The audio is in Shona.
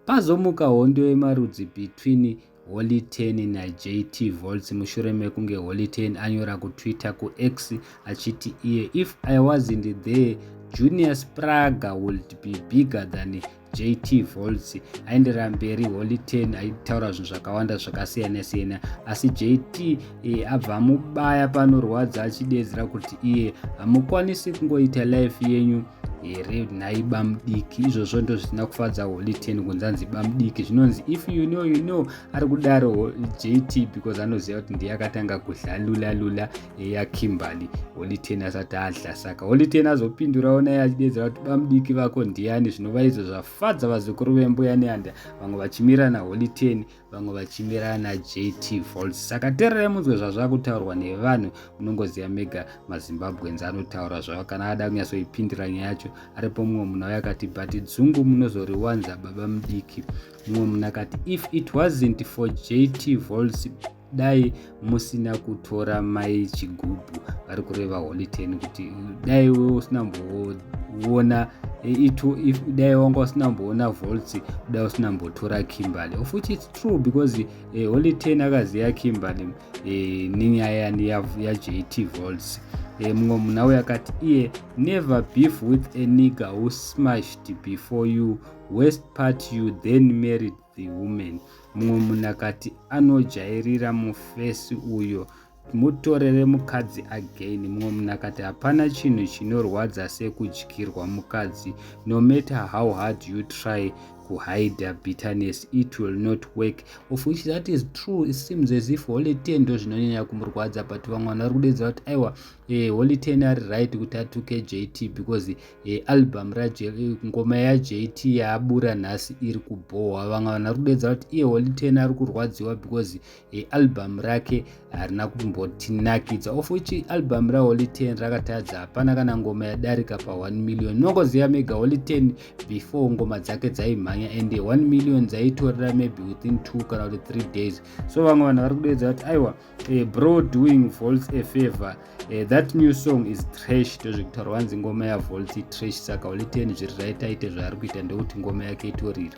Pazomuka hondo yemarudzi between Holy Ten naJT Volts mushure mekunge Holy Ten anyora kuTwitter kuX achiti iye if I wasn't there Junior Spraga would be bigger than JT Volts. Aenderera mberi Holy Ten aitaura zvinhu zvakawanda zvakasiyana siyana asi JT eh, abva mubaya panorwadza achidedzera kuti iye hamukwanisi kungoita life yenyu here nhai bamudiki izvozvo ndo zvisina kufadza holy ten kunzanzi bamudiki zvinonzi if you know you know ari kudaro jt because anoziva kuti ndiye akatanga kudlalula lula eya kimberly holy ten asati adla saka holy ten azopindurawo naye achidedzera kuti bamudiki vako ndiyani zvinova izvo zvafadza vazukuru vembuya neanda vamwe vachimirana holy ten vamwe vachimirana najt volt saka tererai munzwe zvazvava kutaurwa nevanhu munongoziva mega mazimbabwenzi anotaura zvavo kana ada kunyatsoipindira nyaya yacho aripo mumwe munhu auya akati but dzungu munozoriwanza baba mudiki mumwe munhu akati if it wasn't for jt volts dai musina kutora mai chigubhu vari kureva holy ten kuti dai wewe usina mboona itu if dai wanga usina mboona volts dai usina mbotora kimberly of which its true because eh, holy ten akaziva kimberly eh, nenyaya yajt ya volts eh, mumwe munhu auya akati iye never beef with a nigger who smashed before you west part you then married the woman mumwe munhu akati anojairira mufesi uyo mutorere mukadzi again mumwe munhu akati hapana chinhu chinorwadza sekudyirwa mukadzi no matter how hard you try kuhida bitterness it will not work of which that is true it seems as if holy ten ndo zvinonyanya kumurwadza but vamwe vanhu vari kudedza kuti aiwa eh, holy ten ari right kuti atuke jt because e, album ngoma yajt yaabura nhasi iri kubhohwa vamwe vana kudedza kuti iye holy ten ari kurwadziwa because e, album rake harina kumbotinakidza of which album raholy ten rakatadza hapana kana ngoma yadarika pa 1 million nongoziva mega holy ten before ngoma dzake dzaimhanya and 1 million dzaitorera maybe within two kana kuti three days so vamwe vanhu vari kudedza kuti aiwa uh, bro doing volts a favor uh, that new song is trash ndozvekutaura wanzi ngoma yavolt trash saka oliteni zviri right aite zvaari kuita ndekuti ngoma yake itorira